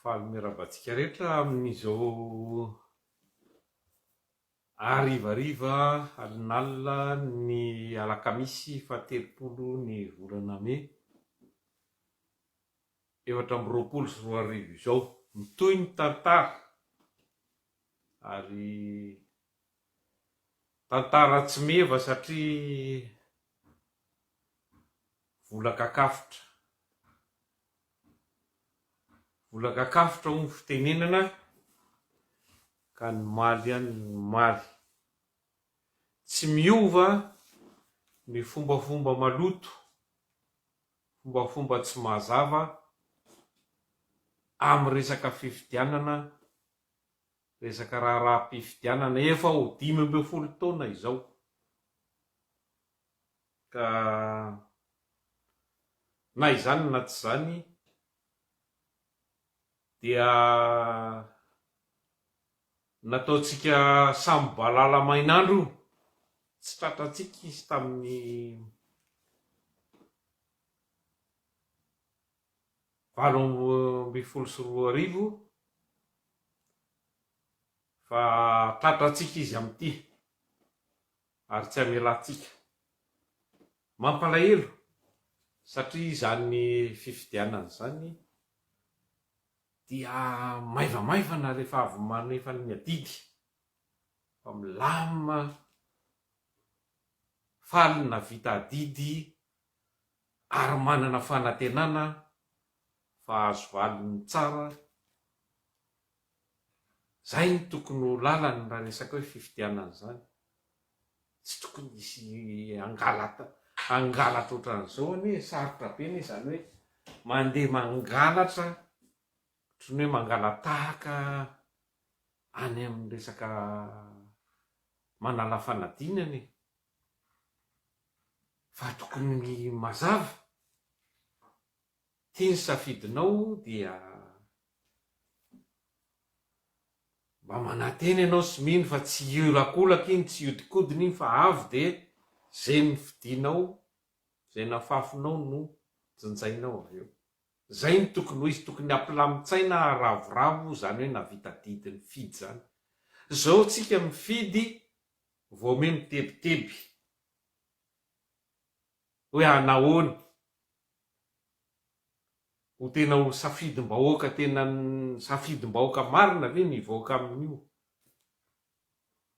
Faly miarahaba antsika rehetra amin'izao harivariva alin'alina ny alakamisy faha telopolo ny volana mey efatra amby roapolo sy roa arivo izao. Mitohy ny tantara ary tantara tsy meva satria Vola kakafotra Vola kakafotra hoy ny fitenenana ka ny maly any ny maly. Tsy miova ny fombafomba maloto, fombafomba tsy mazava amin'ny resaka fifidianana, resaka raharaham-pifidianana efa ho dimy ambin'ny folo taona izao. Ka na izany na tsy izany dia nataontsika samy balala mainandro io, tsy tratrantsika izy tamin'ny valo ambin'ny folo sy roa arivo fa tratrantsika izy amin'ity. ary tsy hamelantsika. Mampalahelo satria izany fifidianana izany dia maivamaivana rehefa avy manefa ny adidy fa milamina faly ny nahavita adidy ary manana fanantenana fa hahazo valiny tsara Izay no tokony ho lalany raha resaka hoe fifidianana izany. Tsy tokony hisy hangalatra hangalatra ohatran'izao anie e, sarotra be anie izany hoe mandeha mangalatra ohatran'ny hoe mangala-tahaka any amin'ny resaka manala fanadinana e. Fa tokony mazava. Ity ny safidinao dia mba manantena ianao sy mino fa tsy hiolakolaka iny, tsy hiodikodina iny fa avy dia izay nofidinao, izay nafafinao no jinjainao avy eo. Izay no tokony ho izy, tokony hampilamin-tsaina, haravoravo izany hoe nahavita didy nifidy izany. Izao tsika mifidy vao ome mitebiteby. hoe a nahoana ho tena ho safidim-bahoaka tena safidim-bahoaka marina ve ny hivoaka amin'io?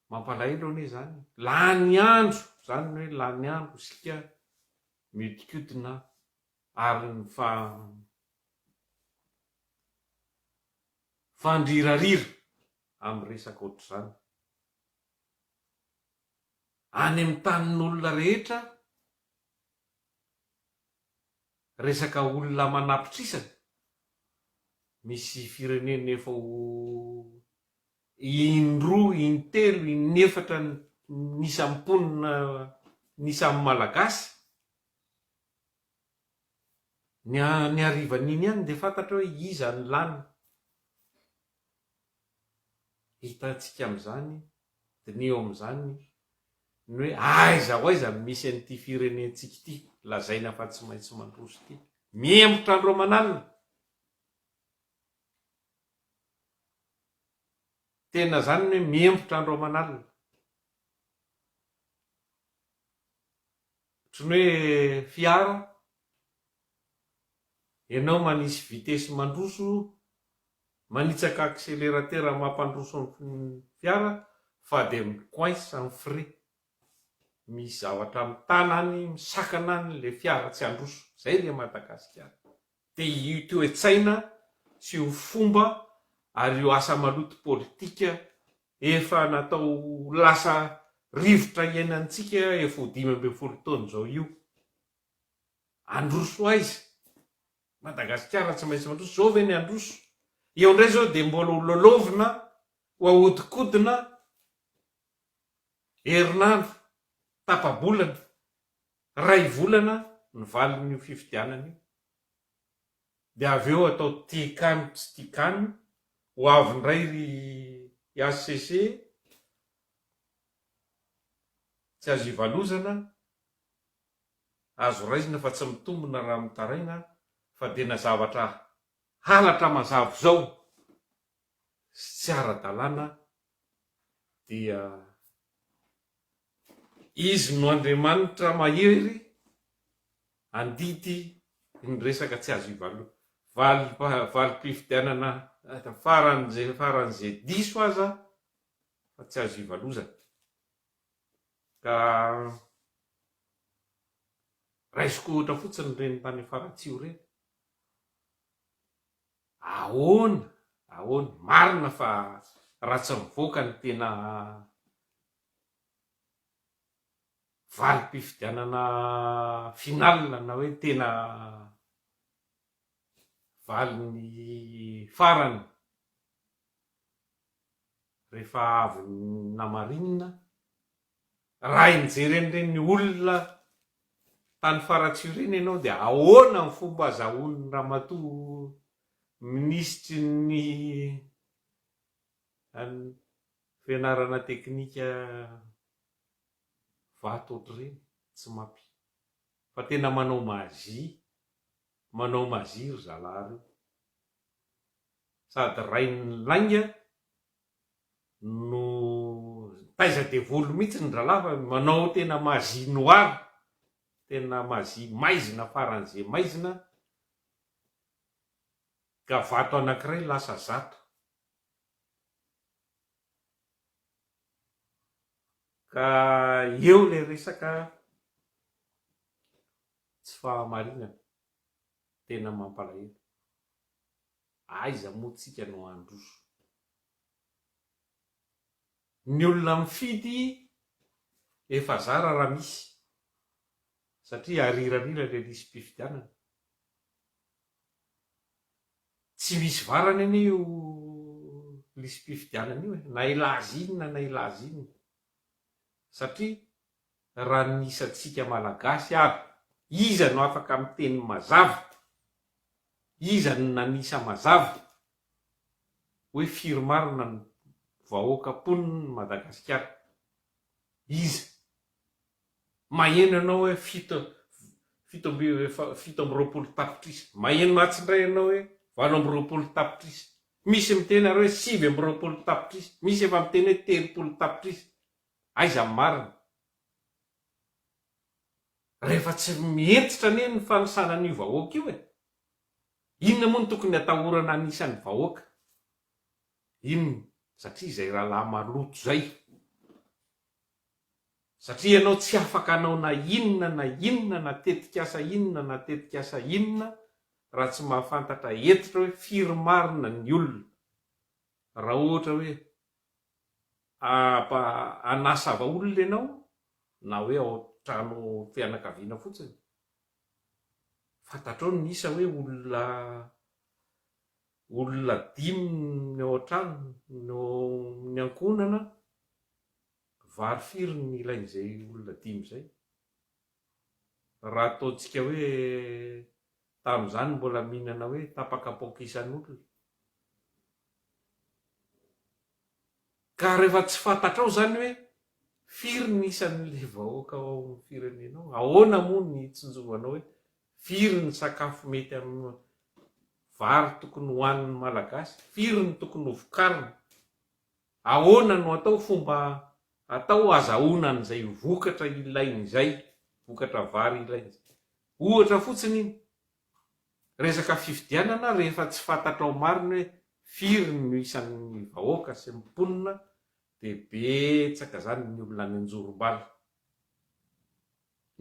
Mampalahelo anie izany e! Lany andro, izany ny hoe lany andro isika mihodinkodina ary ny fa fandrirarira amin'ny resaka ohatr'izany. any amin'ny tanin'olona rehetra resaka olona manapitrisany, misy firenena efa ho in-droa, in-telo, in-efatra ny isan'ny mponina, ny isan'ny Malagasy. Ny harivan'iny ihany dia fantatra hoe iza no lany. Hitantsika amin'izany, diniho amin'izany, ny hoe aiza ho aiza no misy an'ity firenentsika ity lazaina fa tsy maintsy mandroso ity. Mihemotra andro aman'alina. Tena izany ny hoe mihemotra andro aman'alina. Ohatran'ny hoe fiara ianao manisy vitesy mandroso, manitsaka accélérateur mampandroso ny fiara fa dia mi coince amin'ny frein. Misy zavatra mitana any, misakana any ilay fiara tsy handroso. Izay ilay Madagasikara. Dia io toe-tsaina sy io fomba ary io asa maloto politika efa natao lasa rivotra iainantsika efa ho dimy ambin'ny folo taona izao io. Handroso aiza? Madagasikara tsy maintsy mandroso. Izao ve ny handroso? Eo indray izao dia mbola ho lalaovina, ho ahodikodina herinandro, tapa-bolana. Iray volana ny valin'io fifidianana io, dia avy eo atao tikan tsy tikan, ho avy indray ry HCC, tsy azo ivalozana, azo raisina fa tsy mitombina raha mitaraina fa dia na zavatra halatra mazava izao sy tsy ara-dalàna dia Izy no Andriamanitra mahery handidy ny resaka tsy azo ivalona. Valim-pifidianana faran'izay faran'izay diso aza fa tsy azo ivalozana. Ka raisiko ohatra fotsiny ireny tany Faratsiho ireny. Ahoana, ahoana, marina fa raha tsy mivoaka ny tena valim-pifidianana final na hoe tena valiny farany rehefa avy namarinina Raha hijery an'ireny olona tany Faratsiho ireny ianao dia ahoana ny fomba azahoan'ny ramatoa minisitry ny an'ny fianarana teknika vato ohatr'ireny? Tsy mapi. Fa tena manao magie, manao magie ry zalahy reo. Sady rain'ny lainga. no taiza devoly mihitsy ny dralahy fa manao tena magie noire tena magie maizina faran'ze maizina ka vato anakiray lasa zato ka eo le resaka tsy fahamarinana tena mampalahelo Aiza moa tsika no handroso. Ny olona mifidy efa zara raha misy satria ariran'ila ilay lisi-pifidianana. Tsy misy varany anie io lisi-pifidianana io e, na hilaza inona na hilaza inona satria raha ny isantsika Malagasy ary iza no afaka miteny mazava, iza no nanisa mazava hoe firy marina ny vahoaka mponin'i Madagasikara? Iza? Maheno ianao hoe fito fito amby fito amby roapolo tapitrisa, maheno atsy indray ianao hoe valo amby roapolo tapitrisa, misy miteny ary hoe sivy amby roapolo tapitrisa, misy efa miteny hoe telopolo tapitrisa, Aiza ny marina? Rehefa tsy mihentitra anie ny fanisana an'io vahoaka io e! Inona moa no tokony atahorana hanisa ny vahoaka? Inona? Satria izay rahalahy maloto izay. Satria ianao tsy afaka hanao na inona na inona na tetikasa inona na tetikasa inona raha tsy mahafantatra hentitra hoe firy marina ny olona. Raha ohatra hoe Aba anasava olona ianao na hoe ao trano fianakaviana fotsiny. Fantatrao ny isa hoe olona olona dimy ny ao an-trano no ny ankohonana vary firy ny ilain'izay olona dimy izay. raha ataontsika hoe tamin'izany mbola mihinana hoe tapaka paoka isan'olona. Ka rehefa tsy fantatrao izany hoe firy ny isan'ilay vahoaka ao amin'ny firenenao, ahoana moa ny hitsinjovanao hoe firy ny sakafo mety amin'ny vary tokony hohanin'ny Malagasy, firy ny tokony hovokarina. Ahoana no atao fomba atao azahoana an'izay vokatra ilainy izay, vokatra vary ilainy izay? Ohatra fotsiny iny, resaka fifidianana rehefa tsy fantatrao marina hoe firy no isan'ny vahoaka sy ny mponina dia betsaka izany ny olona any an-jorom-bala.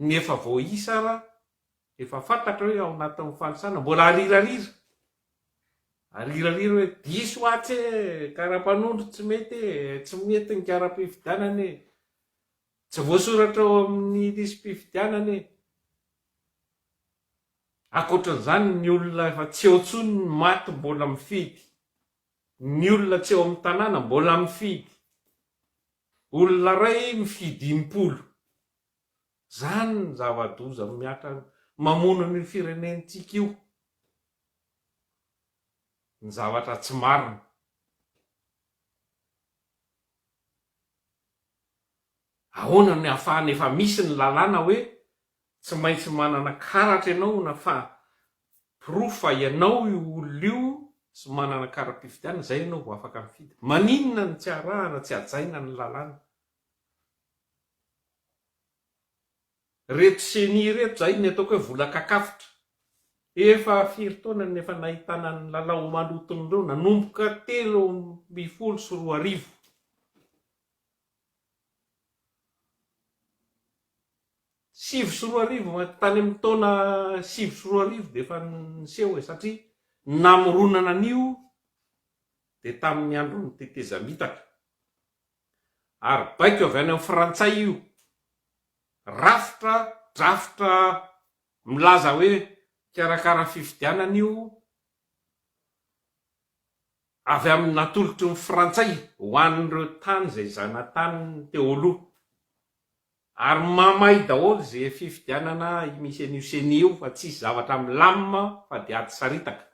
Ny efa voaisa ara Rehefa fantatra hoe ao anatin'ny fanisana, mbola arirarira. Arirarira hoe diso atsy e, karapanondro tsy mety e, tsy mety ny kara-pifidianana e, tsy voasoratra ao amin'ny lisi-pifidianana e. Ankoatran'izany ny olona efa tsy eo intsony ny maty mbola mifidy. Ny olona tsy eo amin'ny tanàna mbola mifidy. Olona iray mifidy impolo. Zany ny zava-doza miatra mamono an'io firenentsika io. Ny zavatra tsy marina. Ahoana no ahafahana efa misy ny lalàna hoe tsy maintsy manana karatra ianao na fa porofo fa ianao io olona io sy manana kara-pifidianana, izay ianao vao afaka mifidy. Maninona no tsy arahana, tsy hajaina ny lalàna Reto ceni reto zay ny ataoko hoe vola kakafotra. Efa firy taona no efa nahitana ny lalao maloton'ireo nanomboka telo ambin'ny folo sy roa arivo. Sivy sy roa arivo, tany amin'ny taona sivy sy roa arivo dia efa niseho e, satria ny namoronana an'io dia tamin'ny andron'ny tetezamitaka. ary baiko avy any amin'ny frantsay io rafitra drafitra milaza hoe hikarakara fifidianana io avy amin'ny natolotry ny frantsay ho an'ireo tany izay zanatany teo aloha ary mamay daholo izay fifidianana misy an'io ceni io fa tsisy zavatra milamina fa dia ady saritaka.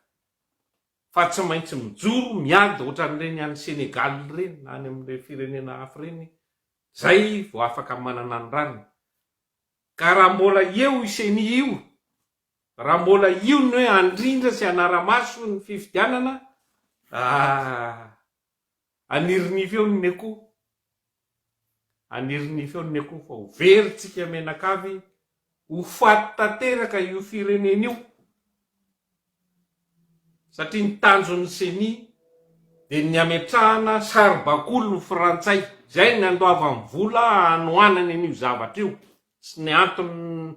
fa tsy maintsy mijoro miady ohatran'ireny any Senegal ireny na any amin'ireny firenena hafa ireny zay vao afaka manana ny rariny ka raha mbola eo io ceni io raha mbola io ny hoe handrindra sy hanara-maso ny fifidianana ah Anirinivo eo ny akoho, anirinivo eo ny akoho fa ho very tsika menakavy, ho faty tanteraka io firenena io, satria ny tanjon'ny ceni dia ny ametrahana saribakoly ny frantsay, izay no nandoavany vola hanohanany an'io zavatra io sy ny antony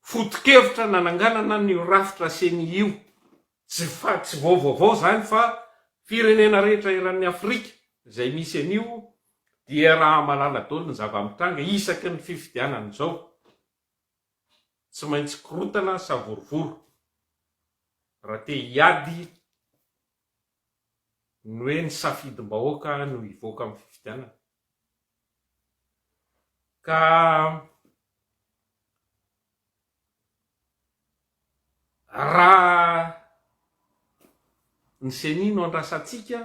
foto-kevitra nananganana an'io rafitra ceni io. Tsy facts vao vaovao izany fa firenena rehetra eran'ny Afrika izay misy an'io dia raha malala daholo ny zava-mitranga isaky ny fifidianana izao. Tsy maintsy korotana savorovoro raha te hiady ny hoe ny safidim-bahoaka no hivoaka amin'ny fifidianana. Ka raha ny ceni no andrasantsika,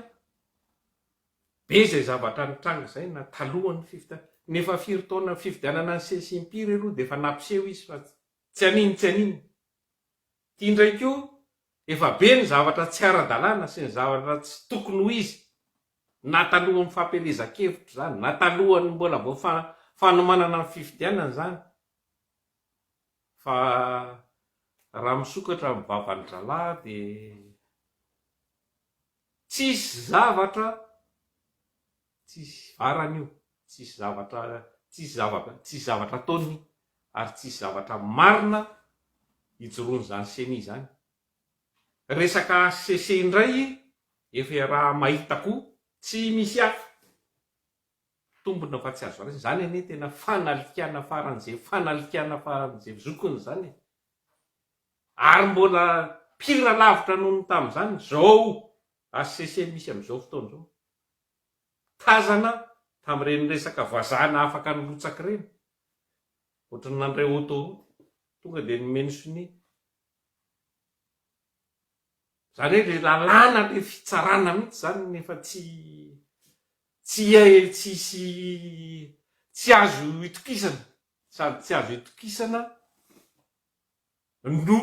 be izay zavatra nitranga izay na talohan'ny fifidianana, ny efa firy taona fifidianana an'i ceni sy impiry aloha dia efa nampiseho izy fa tsy an'iny tsy an'iny. Ity indray koa efa be ny zavatra tsy ara-dalàna sy ny zavatra tsy tokony ho izy na talohan'ny fampielezan-kevitra izany na talohan'ny mbola vao fanomanana ny fifidianana izany fa raha misokatra ny vavan-dralahy dia tsisy zavatra Tsisy varany io, tsisy zavatra, tsisy zavatra, tsisy zavatra ataony ary tsisy zavatra marina ijoroan'izany ceni izany. Resaka HCC indray efa iaraha mahita koa, tsy misy hafa tombony fa tsy azo raisina. Izany anie tena fanalikana faran'izay fanalikana faran'izay zokiny izany e! Ary mbola pire lavitra noho ny tamin'izany izao HCC misy amin'izao fotoana izao. tazana tamin'ireny resaka vazana afaka nirotsaka ireny, ohatry ny nandray autoroute, tonga dia ni-mentionner. Izany hoe ilay lalàna, ilay fitsarana mihitsy izany no efa tsy, tsy hay, tsy hisy, tsy azo itokisana, sady tsy azo itokisana no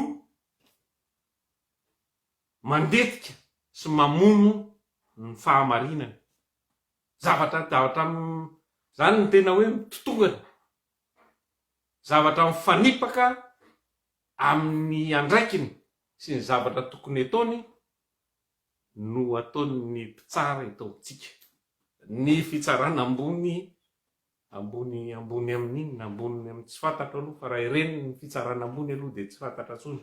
mandetika sy mamono ny fahamarinany. Zavatra zavatra izany no tena hoe mitotongana. Zavatra mifanipaka amin'ny andraikiny sy ny zavatra tokony ataony no ataon'ny mpitsara eto amintsika. Ny fitsarana ambony ambony ambony amin'inona? Ambony amin'ny tsy fantatro aloha fa raha ireny ny fitsarana ambony aloha dia tsy fantatra intsony.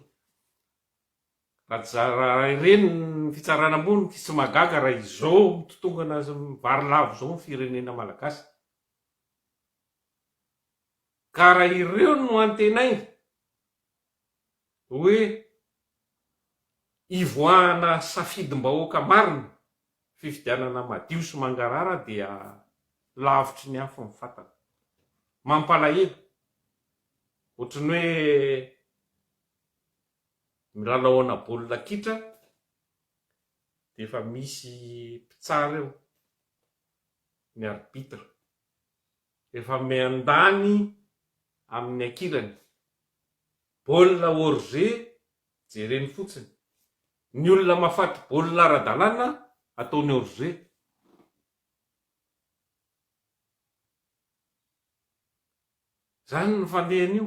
Raha tsy zara ireny ny fitsarana ambony tsy magaga raha izao mitotongana sy mivary lavo izao ny firenena malagasy. Ka raha ireo no antenaina hoe hivoahana safidim-bahoaka marina, fifidianana madio sy mangarahara dia lavitry ny afo ny fatana. Mampalahelo. Ohatry ny hoe milalaoana baolina kitra dia efa misy mpitsara eo, ny arbitre, efa miandany amin'ny ankilany, baolina hors-jeu jereny fotsiny, ny olona mafaty baolina ara-dalàna ataony hors-jeu. Izany no fandehan'io.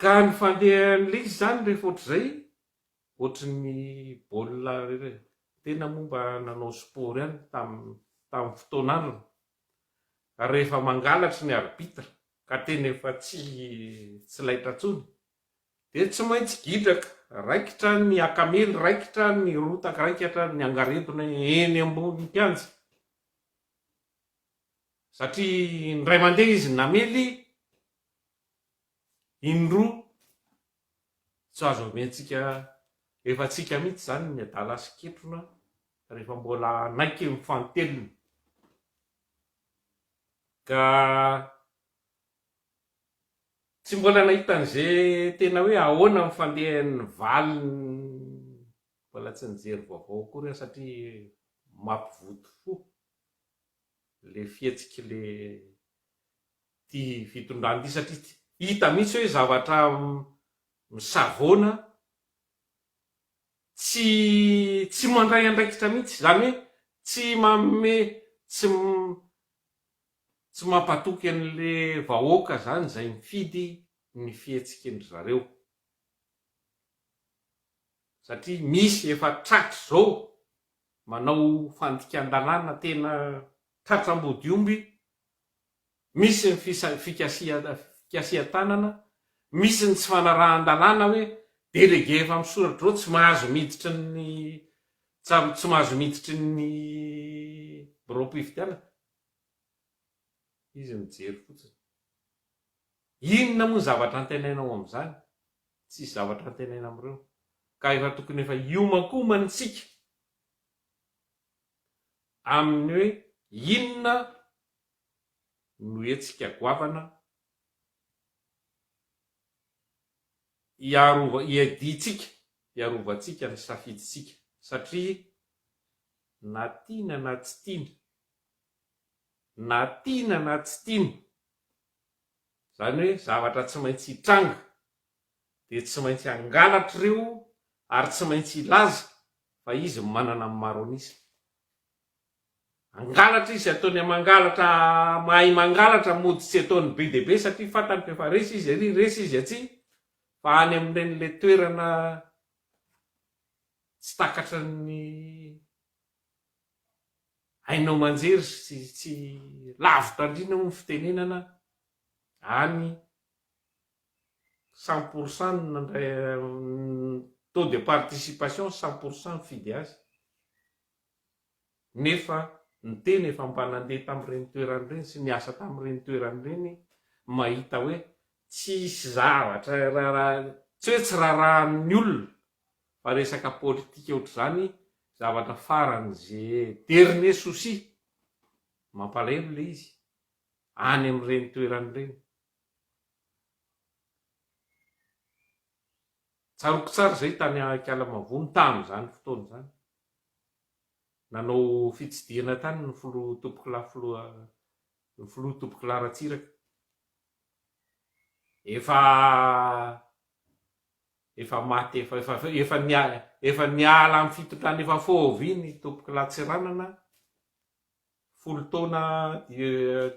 Ka ny fandehan'ilay izy izany rehefa ohatr'izay, ohatry ny baolina tena moa mba nanao sport ihany tamin'ny tamin'ny fotoan'androny. Ary rehefa mangalatry ny arbitre ka tena efa tsy tsy laitra intsony dia tsy maintsy gidraka, raikitra ny akamely, raikitra ny rotaka, raikitra ny angaredona eny ambony kianja. Satria indray mandeha izy namely in-droa tsy azo omentsika efa-tsika mihitsy izany ny adala sy ketrona rehefa mbola hanaiky ny fanteliny. Ka tsy mbola nahita an'izay tena hoe ahoana ny fandehan'ny valiny mbola tsy nijery vaovao akory aho satria mampivoto fo. le fihetsik'i le ty fitondrana ty satria hita mihitsy hoe zavatra misavoana tsy tsy mandray andraikitra mihitsy zany hoe tsy manome tsy tsy mampatoky an'le vahoaka zany zay mifidy ny fihetsikindry zareo satria misy efa tratry zao Manao fandikan-dalàna tena tratra ambodiomby, misy ny fikasihan-tanana, misy ny tsy fanarahan-dalàna hoe délégué efa misoratra izao tsy mahazo miditra ny tsy mahazo miditry ny biraom-pifidianana. Izy mijery fotsiny. Inona moa ny zavatra antenaina ao amin'izany? Tsisy zavatra antenaina amin'ireo. Ka efa tokony efa hiomankomana isika amin'ny hoe inona no hetsika goavana hiarova, hiadiantsika, hiarovantsika ny safidintsika. Satria na tiana na tsy tiana, na tiana na tsy tiana, izany hoe zavatra tsy maintsy hitranga, dia tsy maintsy hangalatra ireo ary tsy maintsy hilaza fa izy manana ny maronisme. Hangalatra izy, ataony amin'ny mangalatra mahay mangalatra, mody tsy ataony be dia be satria fantany fa efa resy izy ary resy izy atsy, fa any amin'ilay toerana tsy takatry ny. haino aman-jery sy tsy lavo tandrina hoy ny fitenenana any cent pour cent taux de participation cent pour cent mifidy azy nefa ny tena efa mba nandeha tamin'ireny toerana ireny sy niasa tamin'ireny toerana ireny mahita hoe tsisy zavatra tsy hoe tsy rarahan'ny olona fa resaka politika ohatr'izany zavatra farany ze dernier souci, mampalahelo le izy any amin'ireny toerana ireny. Tsaroako tsara izay tany Ankialamavono tamin'izany fotoana izany, nanao fitsidihana tany ny filoha Topokolahy filoha ny filoha Topokolahy Ratsiraka, efa Efa maty efa efa efa nia efa niala amin'ny fitondran efa fôvy iny tompoko Latsiranana folo taona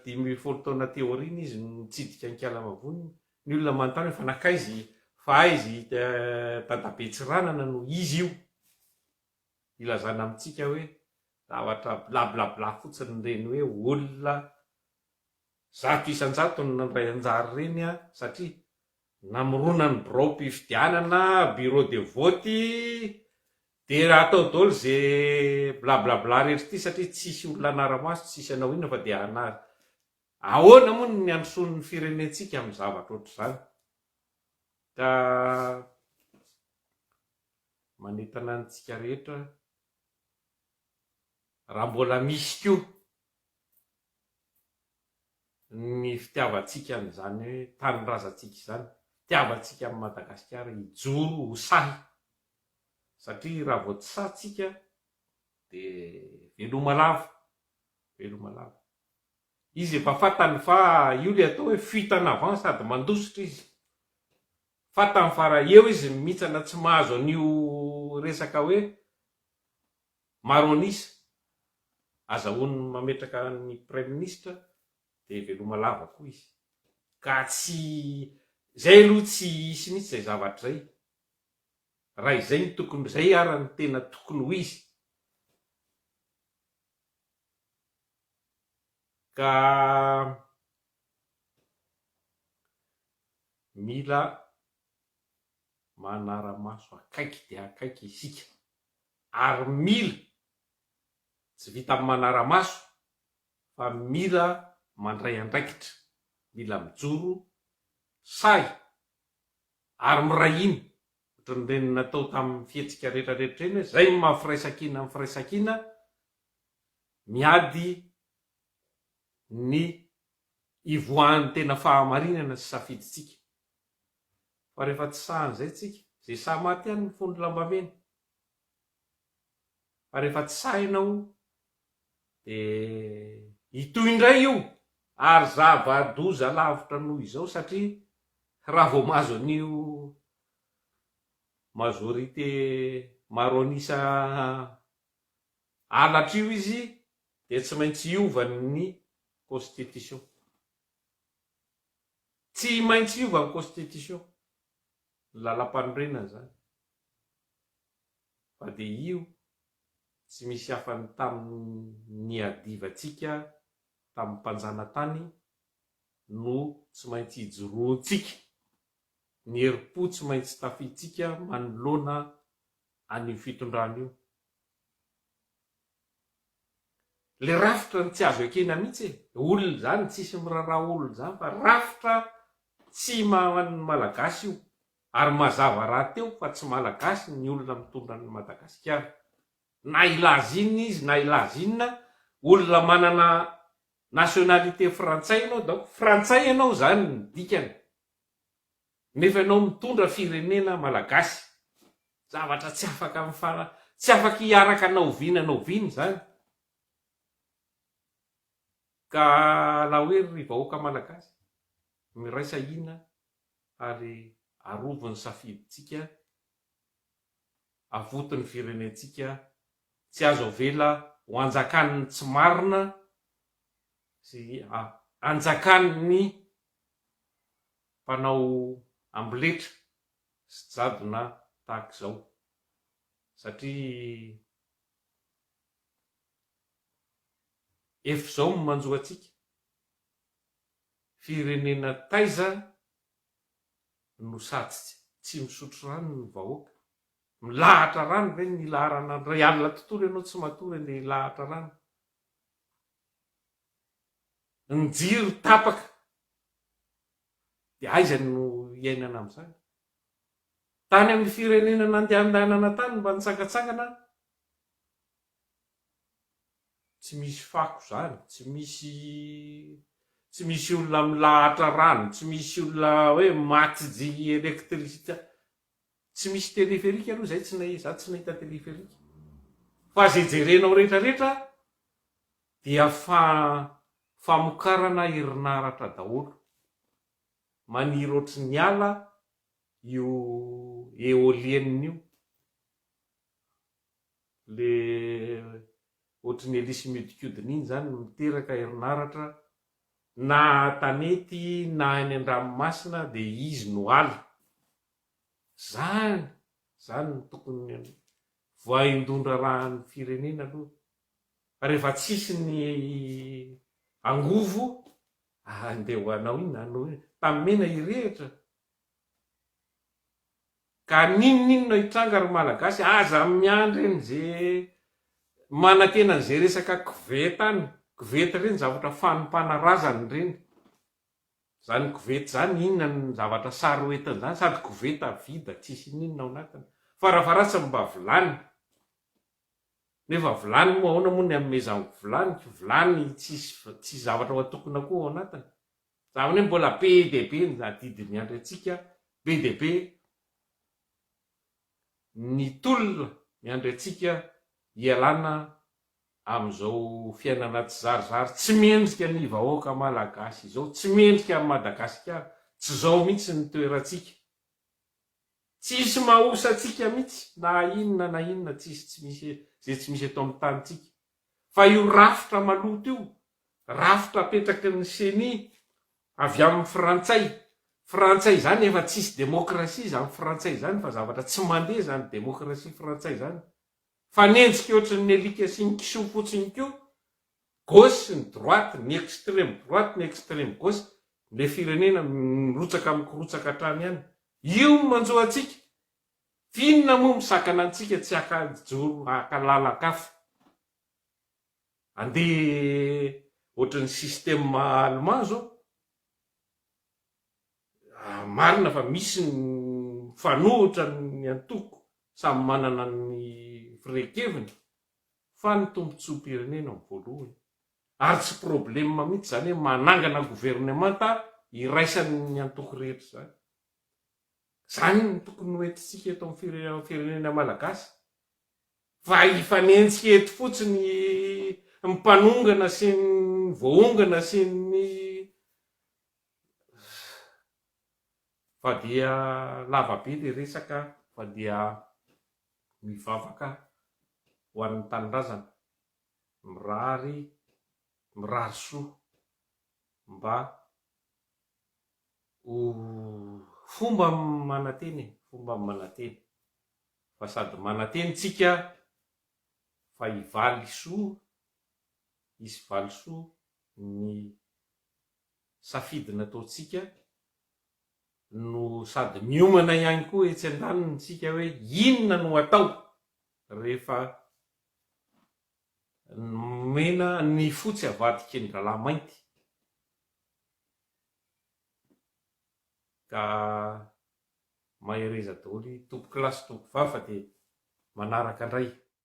dimy folo taona aty aoriana izy no nitsidika an'i Kialamavony ny olona manontany hoe fa nankaiza i fa aiza i dadabe Tsiranana no izy io ilazana amintsika hoe zavatra blablabla fotsiny ireny hoe olona Zato isan-jato no nandray anjara ireny satria namorona ny biraom-pifidianana, bureau de vote, dia atao daholo ze blablabla rehetra ity satria tsisy olona hanara-maso, tsisy hanao inona fa dia hanary. Ahoana moa ny handrosoan' ny firenentsika amin'ny zavatra ohatr'izany? Ka manentana antsika rehetra raha mbola misy koa ny fitiavantsika an'izany hoe tanindrazantsika izany, fitiavantsika an'i Madagasikara hijoro ho sahy, satria raha vao tsy sahy tsika dia veloma lava, veloma lava. Izy efa fantany fa io le atao hoe fuite en avant sady mandositra izy, fantany fa raha eo izy mihintsana tsy mahazo an'io resaka hoe, Maro an'isa. Azahoany mametraka ny praiminisitra dia veloma lava koa izy. Ka tsy, izay aloha tsy hisy mihitsy izay zavatra izay. Raha izay no tokony, izay ara no tena tokony ho izy. Ka mila manara-maso akaiky dia akaiky isika. ary mila, tsy vitan'ny manara-maso fa mila mandray andraikitra, mila mijoro sahy ary miray hina ohatran'ireny natao tamin'ny fihetsika rehetrarehetra ireny hoe zay ny maha firaisankina ny firaisankina, miady ny hivoahan'ny tena fahamarinana sy safidintsika. Fa rehefa tsy sahy an'izay tsika, izay sahy maty ihany no fono lambamena. Fa rehefa tsy sahy ianao, dia hitohy indray io, ary zava-doza lavitra noho izao, satria raha vao mahazo an'io majorité maro an'isa halatra io izy, dia tsy maintsy hiova ny constitution. Tsy maintsy hiova ny constitution, ny lalampanorenana izany, fa dia io tsy misy hafa ny tamin'ny niadivantsika tamin'ny mpanjanatany no tsy maintsy ijoroantsika, ny herim-po tsy maintsy tafihintsika manoloana an'io fitondrana io. Le rafitra ny tsy azo ekena mihitsy e! Olona izany tsisy miraraha olona izany fa rafitra tsy maha ny malagasy io ary mazava rahateo fa tsy malagasy ny olona mitondra an'i Madagasikara na hilaza inona izy na hilaza inona olona manana nationalité frantsay ianao donc frantsay ianao izany ny dikany. Nefa ianao mitondra firenena Malagasy. Zavatra tsy afaka mifana tsy afaka hiaraka na oviana na oviana izany. Ka la hoe ry vahoaka Malagasy, miraisa hina ary arovy ny safidintsika, avoty ny firenentsika, tsy azo avela ho anjakan'ny tsy marina sy anjakan'ny. mpanao amboletra sy jadona tahaka izao satria efa izao no manjo antsika, firenena taiza no sady tsy misotro rano ny vahoaka, milahatra rano ve ny laharana, raha alina tontolo ianao tsy matory andeha hilahatra rano? ny jiro tapaka dia aiza no hiainana amin'izany? Tany amin'ny firenena nandehandehanana tany mba nitsangantsangana aho, tsy misy fako izany, tsy misy tsy misy olona milahatra rano, tsy misy olona hoe maty jii électricité, tsy misy téléphérique aloha izay tsy nahi- za tsy nahita téléphérique, fa izay jerenao rehetrarehetra Dia fa famokarana herinaratra daholo. Maniry ohatry ny ala io eolienne io. Le ohatry ny elisy miodikodina iny zany miteraka herinaratra na tanety na any andranomasina de izy no ala. Zany zany no tokony voaindon-draharahan'ny firenena aloha. Rehefa tsisy ny angovo handeha ho anao iny na anao iny. Tamena hirehitra. Ka n'inon'inona hitranga ry Malagasy aza miandry an'ze manantena an'ze resaka koveta any. Koveta ireny zavatra fanompana razana ireny. Zany koveta zany inona ny zavatra sary ho entiny zany sady koveta vida tsisy n'inona ao anatiny. Fara faharatsiny mba vilany. Nefa vilany moa aona moa ny anomezanko vilany ko vilany tsisy tsisy zavatra watokona koa ao anatiny za vane mbola be dia be ny adidy miandry atsika be dia be ny tolona miandry atsika hialana amizao fiainana tsizarizary tsy mendrika ny vahoaka malagasy izao tsy mendrika any madagasikara tsy zao mihitsy ny toeratsika Tsisy mahosa antsika mitsy na inona na inona tsisy tsy misy ze tsy misy eto am tany tsika fa io rafitra maloto io rafitra apetraky ny ceni avy am frantsay frantsay zany efa tsisy demokrasia zany frantsay zany fa zavatra tsy mande zany demokrasia frantsay zany Mifanenjika ohatry ny alika sy ny kisoa fotsiny koa gauche sy ny droite, ny extreme droite, ny extreme gauche, ilay firenena mirotsaka mikorontsaka hatrany any. Io no manjo antsika. F'inona moa misakana antsika tsy haka hijoro haka lalan-kafa. Andeha ohatry ny système allemand zao. Marina fa misy ny mifanohitra ny antoko samy manana ny firehan-keviny fa ny tombotsoam-pirenena no voalohany ary tsy problema mihitsy izany hoe manangana governemanta iraisan'ny antoko rehetra izany. Izany no tokony ho entintsika eto amin'ny firenena malagasy fa hifanenjika eto fotsiny ny mpanongana sy ny voaongana sy ny Fa dia lava be le resaka fa dia mivavaka ho an'ny tanindrazana mirary mirary soa mba ho fomba manantena e fomba manantena fa sady manantena tsika fa hivaly soa hisy valisoa ny safidy nataontsika no sady miomana ihany koa etsy an-daniny isika hoe inona no atao rehefa nomena ny fotsy avadiky ny rahalahy mainty ka mahereza daholo i tompokolahy sy tompokovavy fa dia manaraka indray.